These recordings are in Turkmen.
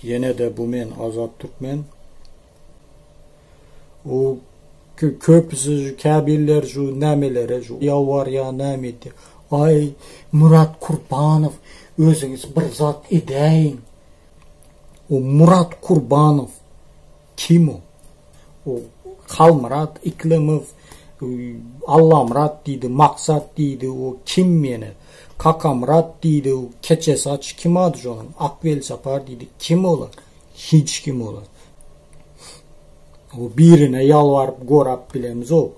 Ýenede bu men azat türkmen. U kü köpüsi şu käbiller şu nämelere şu ýalwarýa näme edýä. Aý Murat Kurbanow özüňiz bir zat edäýiň. U Murat Kurbanow Kim ol? O Halmyrat Iklemow, Allamyrat diýdi, Maksat diýdi, o kim ýene? Kakamyrat diýdi, keçe saç, kim ady şonuň? Akwelsapar diýdi, kim olar? Hiç kim olar. O birine ýalbaryp gorap bilemizok.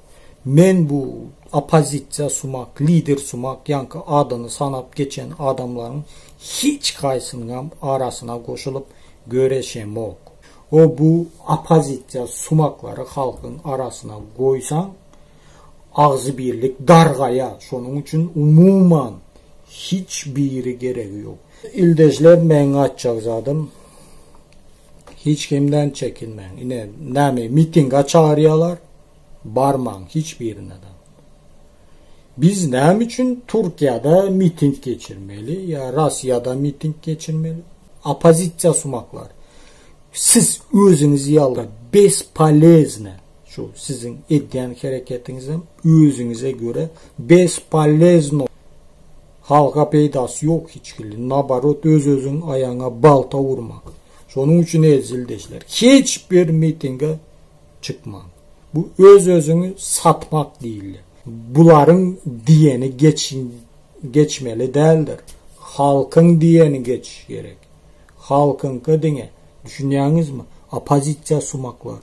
Men bu oppozisiýa sumak, lider sumak ýaňky adyny sanap geçen adamlaryň hiç haýsynyňam arasyna goşulyp göreşemok. Ho bu opozisiýa sumaklary halkyň arasyna goýsaň agzybirlik dargaýa şonuň üçin umuman hiç biri geregi ýok. Ildejler meň aýtjak zadym hiç kimden çekinmäň ine näme mitinga çagyrýalar barmaň hiç birine da Biz näme üçin Türkiýede miting geçirmeli ýa Russiýada miting geçirmeli? Opozisiýa sumaklar. Siz özüňiz ýaly bespolezne şu siziň edýän hereketiňiz hem özüňize görä bespolezno halka peýdasy ýok hiç hili. Nabarot öz özüň aýaňa balta urmak. Şonuň üçin ezildeşler hiç bir mitinge çykmaň. Bu öz-özüňi satmak diýilýär. Bularyň diýeni geç geçmeli däldir. Halkyň diýeni geç gerek. Halkyňka diňe. Düşünýäňizmi? Oppozisiýa sumaklar.